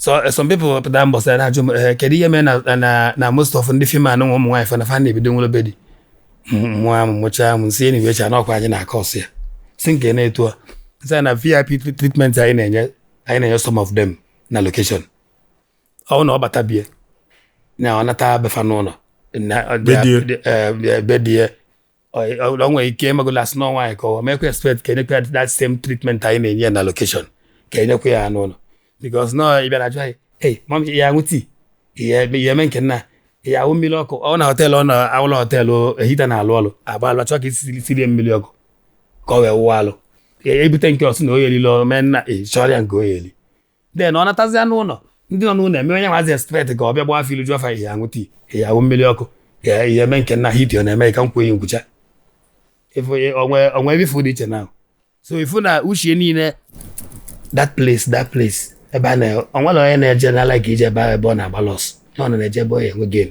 so eh, some people pụta mbọsị na-ajụ m eh, kedu ihe mee na na na most of ndị fim anyị nwa ụmụ nwaanyị fa na fa na-ebido nwere be di mụa m mụchaa m si enyi wecha n'ọkwa anyị na-aka ọsụ ya si nke na-etu a sị na vip tre- treatment anyị na-enye anyị na-enye some of them na location ọ na ọ bata be ya na ọ nata be fa n'ụnọ na- be di ya. eh, be di ya ọ nwere ike emegolo as in nwaanyị ka ọ mekwa expect ka enyekwa ya that same treatment anyị na-enye ya na location ka enyekwa ya n'ụnọ because nọ ịbịa na ajụ anyị ei mam ị ya-aṅụ tii ị ya-eme nke nna ị ya-awụ mmiri ọkụ ọ na hotel ọ na ụlọ hotel heater na-alụ ọlụ agba alụ achọ ka e si siere ya mmiri ọkụ ka ọ wee wụwa alụ ebute nke ọ sị na ọ ya-eli e mee na-achọrọ ya nke ọ ya-eli then ọ natazia n'ụnọ ndị nọ n'ụnọ eme onye nwazi expect ka ọ bịa gbaa afọ ilu jụọ fa ị ya-aṅụ tii ị ya-awụ mmiri ọkụ ya ị ya-eme nke nna ha idio na-eme ka m kwuo ihe nkwucha o nwe ebe ị fụ dị iche na so ị fụ na uche niile that place that place ebe a na o nwere onye na-eje n'ala ka ije ebe ahụ ebe ọ na-agba loss na ọ na-eje ebe ọ ya-enwe gain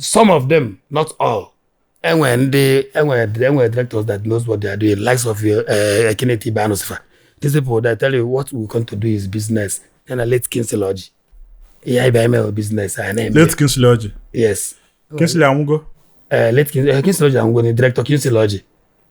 some of them not all e nwere ndị e nwere e nwere directors that knows what they are doing likes of uh, Ken Steve Anuka fa these people that tell you what we come to do is business and a late Kingsley Orji ihe anyị bịa ime business anyị na-eme late Kingsley Orji yes Kingsley Orji anwụgo late Kingsley Orji anwụgo nụ director Kingsley Orji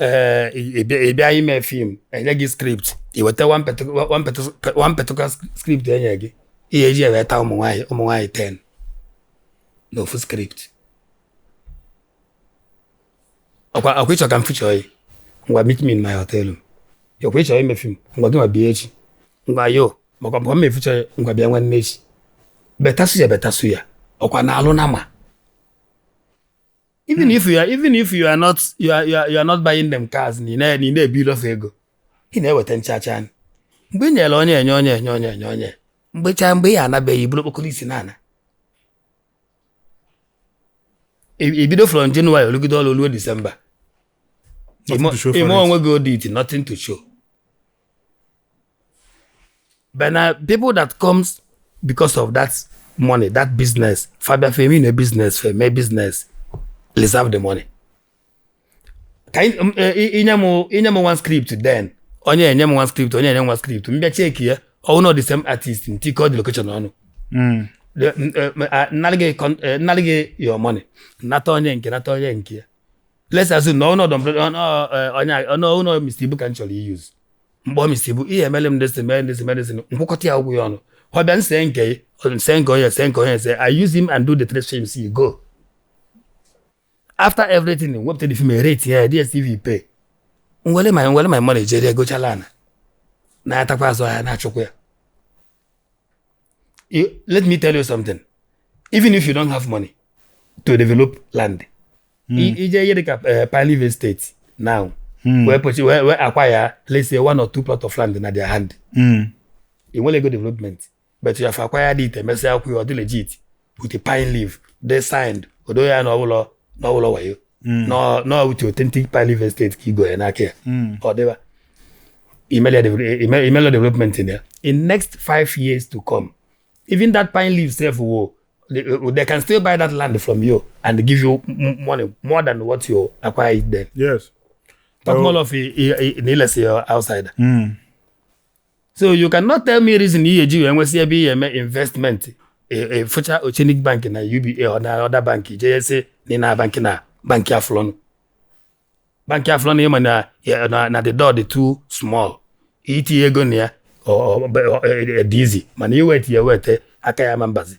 ee ị bịa- ị bịa ime fim e nye gị script i weta one particular- one particular- one particular script e nye gị ị ya-eji ya weta ụmụ nwaanyị ụmụ nwaanyị 10 n'ofu script ọkwa ọkwa ị chọ ka m feature ya ngwa meet me in my hotel room ọkwa ị chọ ime fim ngwa gị nwa bịa echi ngwa you maka maka m feature ya ngwa bịa nwanne echi better suya better suya ọkwa na alụ na ma even hmm. if you are even if you are not you are, you are, you are not buying them cars na ị na-ebi ilofu ego ị na-eweta ncha ncha anyị mgbe ị nyere onye enye onye enye onye enye onye mgbe chaa mgbe ị anabeghị bụrụ okpokoro isi n'ala i bido from January lụgide ọrụ ruo December i mee onwe gị audit nothing to show But now people that comes because of that money, that business, fa bịa fa emenụ business, fa eme business, reserve the money. Ka ị- m- e- ị- i nye m i nye m one script then onye enye m one script onye enye m one script m bịa cheki ya ọ wụ na ọ the same artist m tikọọ the location ọnụ Mm. The- m- eh, m- ah, m nara gị con- eh, m nara gị your money nata onye nke a nata onye nke ya let's assume na ọnụ ọdọ mpe- ọnụ, eh, onye a- ọnụ ọnụ Mr. Ibu ka m chọrọ iyuz mgbe ọ Mr. Ibu ihe emele m ndịsị mee ndịsị mee ndịsị nkwụkọta ya ụgwọ ya ọnụ ọ bịa nse nke ya, ọ nse nke onye nse nke onye nse I use him and do the three films you go after everything wepụta the film rate ya DSTV pay nwere ma nwere ma mmadụ ejere egochala ana na-atakwa azụ ahịa na-achụkwa ya You, let me tell you something. Even if you don't have money to develop land, mm. ije ihe dịka eh, Pine State now, mm. wee pụchi wee wee acquire let's say one or two plot of land na their hand. Mm. I nwerọ ego development, but you have acquired it, emesịa akwụ ya ọ dị legit. with a pine leaf they signed odo ya na ọbụla na ọbụla wayo na na with authentic pine leaf estate ka igo ya n'aka ya ka ọ dịba imelia devel- ime- imelia development in there in next five years to come even that pine leaf sef wo they, they can still buy that land from you and give you m- money more than what you acquire it then yes talk Oh. more of i- i- i- na ilesi ya outside so you cannot tell me reason ihe eji wee nwesị ebe ị ya-eme investment ị fụcha e, Oceanic Bank na UBA na other bank jee sị na na bank na bank aflọnụ bank aflọnụ ịma na na the door dị too small itinye ego na ya dị easy mana iweta ya weta aka ya ma mbazi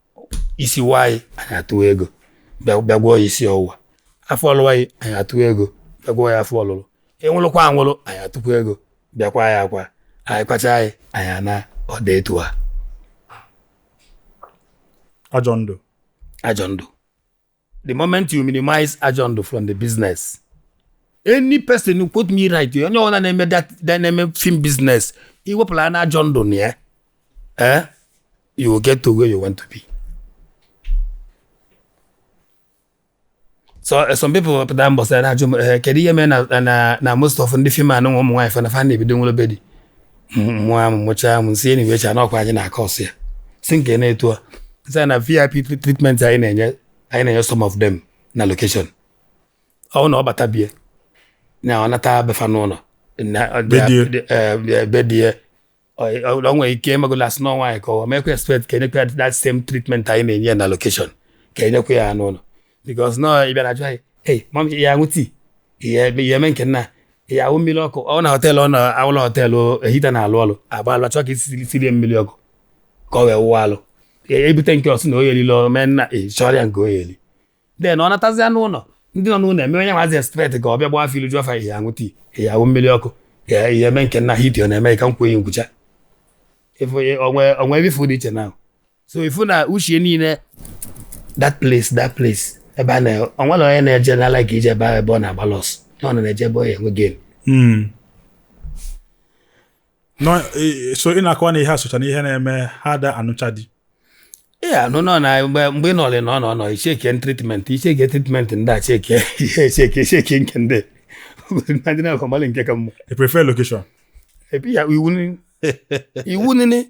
isi waa yị anyị atụwa ego bịa gwọọ ya isi ọwụwa afọ lụwa yị anyị atụwa ego bịa gwọọ ya afọ ọlụlụ ịnwụlụkwa anwụlụ anyị atụkwa ego bịa kwaa ya akwa anyị kwacha yị anyị anaa ọda etu a ajọ ndụ ajọ ndụ the moment you minimize ajọ ndụ from the business any person who quote me right onye ọbụla na-eme na-eme film business iwepụla na ajọ ndụ na ya eh you will get to where you want to be so eh, some people pụta mbọ sị na-ajụ m eh, kedu ihe mee na na most of ndị film anụ ụmụ nwaanyị fana fa na-ebido nwere be di mụa m mụchaa m si enyi wecha n'ọkwa anyị na-acause ya si nke na-etu a sị na vip treatment anyị na-enye anyị na-enye some of them na location ọ na ọ bata bie na ọ nata be fa n'ụnọ be di ya ọ nwere ike ịmagola asị n'ọ nwaanyị ka ọ mekwa expect ka enyekwa that same treatment anyị na-enye na location ka enyekwa ya n'ụnọ because nọ ị bịara jụọ hey mom ị ya-aṅụ tii ị ya-eme nke nna ị ya-awụ mmiri ọkụ ọ na họteelụ ọ na awụla họteelụ heater na-alụ ọlụ agba alụ chọọ ka esi sirie mmiri ọkụ ka ọ wee wụwa alụ ebute nke ọ sị na ọ ya-eli lọ mee nna ị chọrọ ya nke ọ ya-eli then ọ natazịa n'ụlọ ndị nọ n'ụlọ eme onye nwazi expect ka ọ bịa gbaa afọ ilu jụọ fa ị ya-aṅụ tii ị ya-awụ mmiri ọkụ ya ihe eme nke nna hiti ọ na-eme ka m kwuo ihe nkwucha o nwe ebe ife dị iche na so ifu na uche niile that place that place ebe a na onwerọ onye na-eje na ala ka ije ebe ahụ ebe ọ na-agba loss na ọ na-eje ebe ọ ya-enwe gain Hmm. Nọ, eh, so ị na-akọwa na ihe asụcha na ihe na-eme ha da anụcha di ihe anụ nọ na mgbe mgbe ị nọrị na ọ nọ nọ icheke treatment icheke treatment ndị a cheke ihe echeke echeke nke ndị ndị na-akọmalị nke ka mma i prefer location epi ya iwu nini iwu nini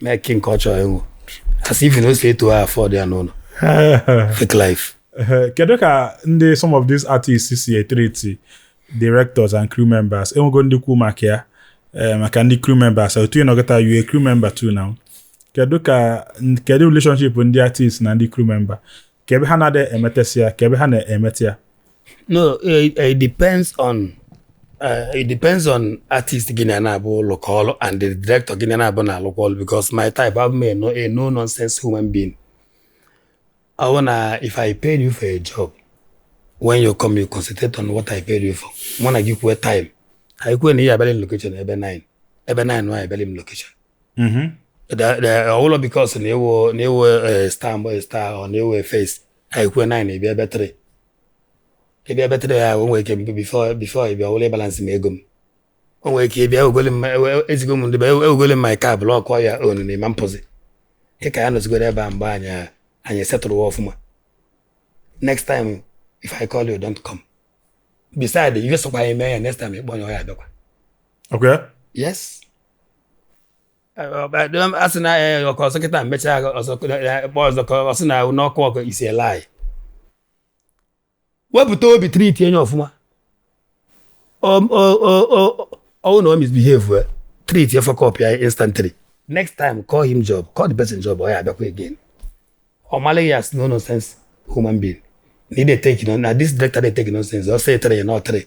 na-eke nke ọ chọrọ ịṅụ asị ife na o si eto ha afọdụ ya n'ụlọ fake life kedu ka ndị some of these artists si etreat directors and crew members enwego ndị kwu maka ya eh, maka ndị crew members otu ị nọ kịta you a crew member too now kedu ka kedu relationship ndị artist na ndị crew member ka ebe ha na-adị emetesị ya ka ebe ha na-emete ya no it, eh, eh, it depends on uh, it depends on artist gị na ya naabọ lụkọ ọlụ and the director gị na ya naabọ na-alụkọ ọlụ because my type abụ m a no nonsense human being ọ bụ na if I pay you for a job when you come you concentrate on what I paid you for mụ na gị kwue time anyị kwue na ị ya-abịala m location ebe 9 ebe 9 nwa abịala m location mm-hmm. the the ọ wụlọ because na ị wụ na ị wụ eh, star mgbe eh, star ọ na ị wụ eh, face anyị kwuo nine ị bịa ebe three ị bịa ebe three ya o nwere ike mgbe before before ị bịa ọ wụlụ ịbalansi m ego m o nwere ike ị bịa ewegole m ezigo m ndị be ewegole m my car block ọ ya ọnụ na ị ma apụzi ịka ya nọzigoro ebe a mgbe anyị anyị setụrụ ọfụma next time if i call you don't come beside ife sokwa anyị mee ya next time ị kpọọ onye ọ ya abịakwa okay yes a sị na ya ọkọ ọzọ kịta mechaa ọzọ kpọọ ọzọ ka ọ sị na n'ọkụ ọkụ isi ele anyị wepụta obi treat onye ọfụma ọ wụ na o misbehave treat fuck up ya instantly next time call him job call the person job ọ ya abịakwa again ọ malụ gị as no nonsense human being na ị na-eteki na this director na-eteki nonsense ọ sị three ya na ọ three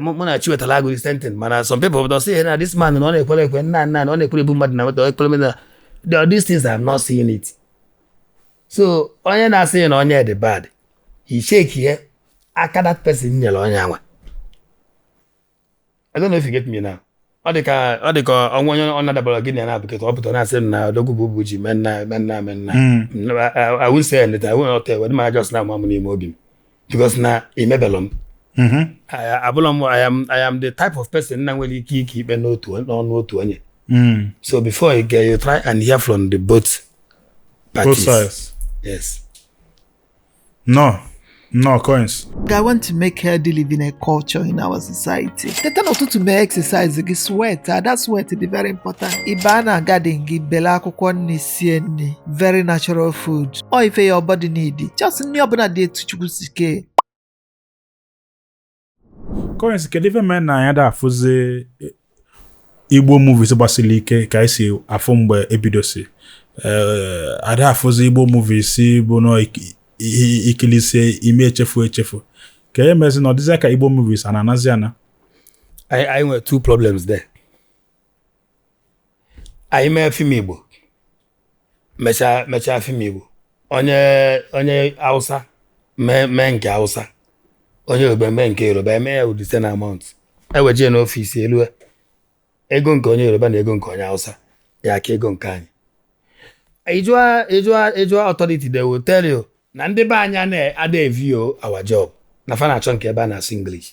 mụ na Chiwetalu Agụ the same thing mana some people don say na this man na ọ na-ekwere ekwe nna nna na ọ na-ekwere ebu mmadụ na nweta ekwere mmadụ na these things I am not seeing it so onye na-asị na onye dị bad ị checkie aka that person nyere onye anwa I don't know if you get me now ọ dị ka ọ dị ka o nwee onye ọ na-adabara gị na ya naabọ kịta ọ pụtara na-asị m na odogwu bụ bụ ji mee nna mee nna mee nna awụ nse ya nleta awụ ọta ewe dị m ajọs na amamụ n'ime obi m because na i mebelọ m I- abụla m I am I am the type of person na nwere ike ike ikpe n'otu on- n'ọnụ otu onye so before you get you try and hear from the both both parties sides yes No, no coins. I want to make healthy living a culture in our society. Teta n'ụtụtụ mee exercise gị sweat ada sweat dị very important. Ị baa na garden gị bele akwụkwọ nni sie nni very natural food. Ọ ife your body need. Just nni ọbụna dị etu Chukwu si kee. kọrensị kedu ife mee na anyị da afụzi eh, igbo movies gbasiri ike ka anyị si afụ mgbe e bidosi Eh, a da afụzi igbo movies bụ nọ iki- i- i kilisie i ma echefu echefu kee ife mezi na ọ dịzịa ka igbo movies a na-anazi ana anyị anyị nwere two problems there anyị mee fim igbo mechaa mechaa fim igbo onye onye hausa mee mee nke hausa onye yoruba mee nke yoruba eme ya with the same amount ewejie n'ọfịs elue ego nke onye yoruba na ego nke onye hausa ya aka ego nke anyị ị jụa ị jụa ị jụa authority they will tell you na ndị be anyị ana- ada eview our job na fa na-achọ nke ebe a na-asụ english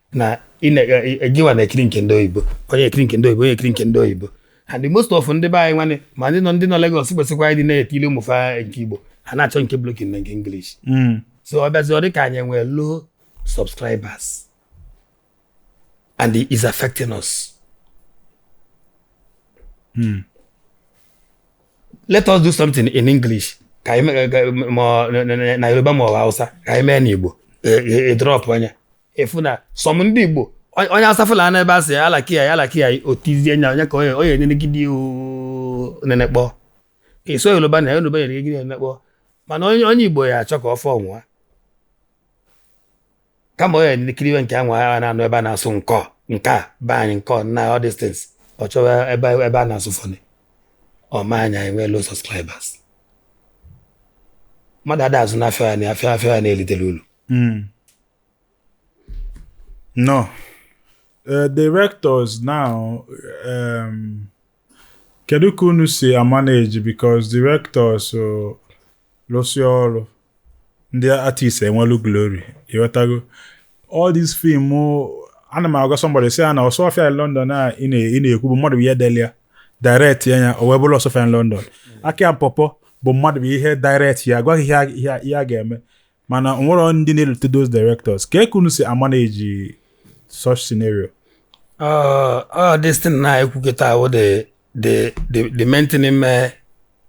na gịnwa na-ekiri nke ndị oyibo onye ekiri nke ndị oyibo onye ekiri nke ndị oyibo and most of ndị be anyị nwanne ma ndị nọ ndị nọ Lagos kwesịkwanụ ịdị na-etili ụmụ fa nke Igbo ha na-achọ nke blokin na nke English so ọ bịazie ọ dị ka anyị nwee low subscribers and it is affecting us let us do something in English ka anyị mee- ka- ma ọ- na- na- na Yoruba ma ọ bụ Hausa ka anyị mee n'Igbo e- e- e drop anyị even some ndị Igbo onye asafụla na ebe a sị ya alaki ya ya alaki ya otizie nya onye ka onye enyere gị dị nenekpọ ka iso Yoruba na Yoruba nyere gị nenekpọ mana onye onye Igbo ya achọ ka ọ fọ nwa kama onye nkiriwe nke anwa ya na-anụ ebe a na-asụ nkọ nke a be anyị nkọ na all these things ọ chọwa ebe ebe a na-asụ fọnị o mee anyị enwee low subscribers mmadụ ada azụ na afịa ya na afịa afịa ya na-elitere ulu hmm. No. Uh, directors now, um, kedu ka unu si amanage because directors lụsịa ọrụ ndị artist ewelu glory ị ghọtago all this film ana m agwa somebody sị ya na Osuofia in London a ị na-ekwu bụ mmadụ bụ ihe delu ya direct ya ya o wee bụrụ Osuofia in London Aki na Pawpaw bụ mmadụ bụ ihe direct ya gwa ha ihe a ga-eme mana o nwerọ ndị na-elote those directors kee ka unu si amanage such scenario uh, uh, this thing ị na-ekwu kịta ahụ the the the the main thing ime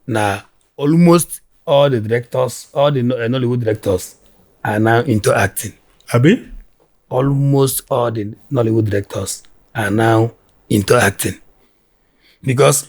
na almost all the directors all the eh, Nollywood directors are now into acting abi almost all the Nollywood directors are now into acting because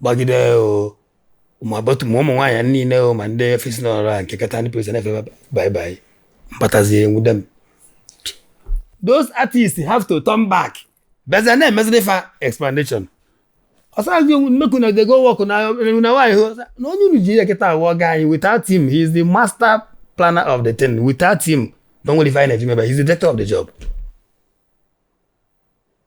gbagide o ma bọtụ ma ụmụ nwaanyị niile o ma ndị fesi n'ọrụ a nke kata ndị polisi na-efe bye bye m batazie e nwude m those artists have to turn back bịazie na-emeziri fa explanation ọsọazị onwe mmeku na dego wọkụ na enwu na nwaanyị hụ na onye unu ji ya kịta awụ ọga anyị without him he is the master planner of the thing without him na o nwerọ ife anyị na-eji mebe he is the director of the job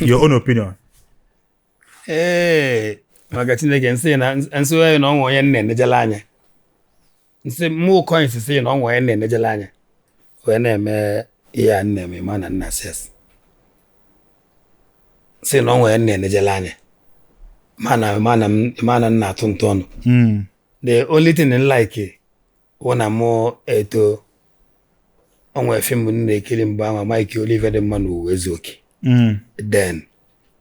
your own opinion ee maka chineke m sị na m sị na o nwe onye na-enejela anya m sị m kọnị sị na o nwe onye na-enejela anya wee na-eme ihe a m na-eme ma na nna ses sị na o nwe onye na-enejela anya mana mana mana m na-atụ ntụ ọnụ hmm. the only thing m like wụ na mụ eto o nwere film m na-ekiri mgbe ahụ Mike Oliver dị mma na Uwaezuoke Mm. then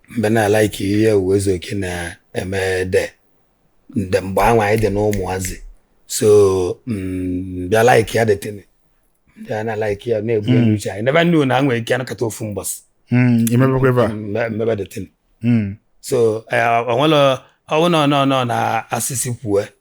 m bịa na-alaiki ihe Uwaezuoke na-eme then mgbe ahụ anyị dị n'ụmụazị so m bịa like ya that thing ndị a na-alaiki ya na-ebu elu uche anyị nebe nnu na a nwere ike anọkata ofu mbọsị Mm. imebekwa ebe a mme- m mebe that thing Mm. so eh, o nwere ọ wụ nọ nọ nọ na asịsị kwue